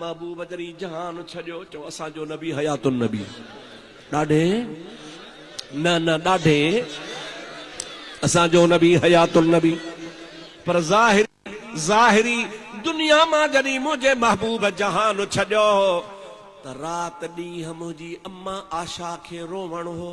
محبوب جري جهان ڇڏيو چئو اسان جو نبي حيات النبي ڏاڍي نه نه ڏاڍي اسان جو نبي حيات النبي پر ظاهر ظاهري دنيا مان جڏهن منهنجي محبوب جهان ڇڏيو هو ته رات ڏينهن منهنجي امان عاشا کي روئڻ هو.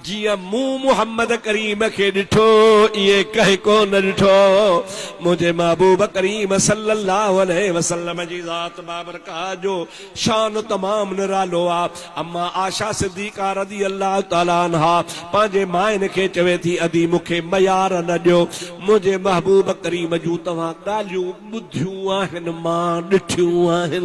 جيئن مون محمد ڪريم کي ڏٺو ائين ڪنهن ڪو نه ڏٺو منهنجي محبوب ڪريم صلّي الله عليه وسلّم جي ذات بابرڪات جو شان تمام نرالو آ اما عائشه صديقه رضي الله تعالٰي عنها پنهنجي ماين کي چوي ٿي ادي مون کي ميار نه ڏيو منهنجي محبوب ڪريم جون توهان ڳالهيون ٻڌيون آهن مان ڏٺيون آهن.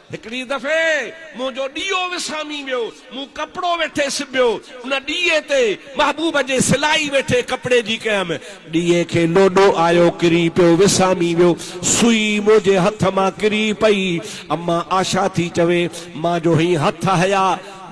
هڪڙي دفعي منهنجو ڏيئو وسامي ويو، مون ڪپڙو ويٺي سبيو، ان ڏيئي تي محبوب جي سلائي ويٺي ڪپڙي جي ڪيم، ڏيئي کي لوڏو آيو، ڪري پيو، وسامي ويو، سوئي منهنجي هٿ مان ڪري پئي، امان آشا ٿي چوي، مان جو هئين هٿ هيا.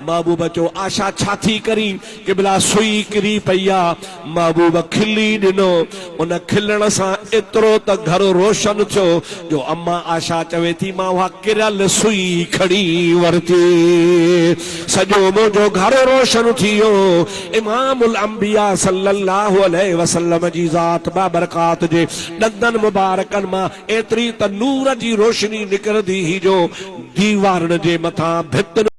محبوب چيو، آشا ڇا ٿي ڪرين؟ قبلا سوئي ڪري پئي آ. محبوب کلي ڏنو. ان کلڻ سان ايترو ته گهر روشن ٿيو جو اما آشا چوي ٿي مان اها ڪريل سوئي کڻي ورتي. سڄو منهنجو گهر روشن ٿي ويو. امام الانبياء صلي الله عليه وسلم جي ذات بابرڪات جي ڏندن مبارڪن مان ايتري ته نور جي روشني نڪرندي هئي جو ديوارن جي مٿان ڀتن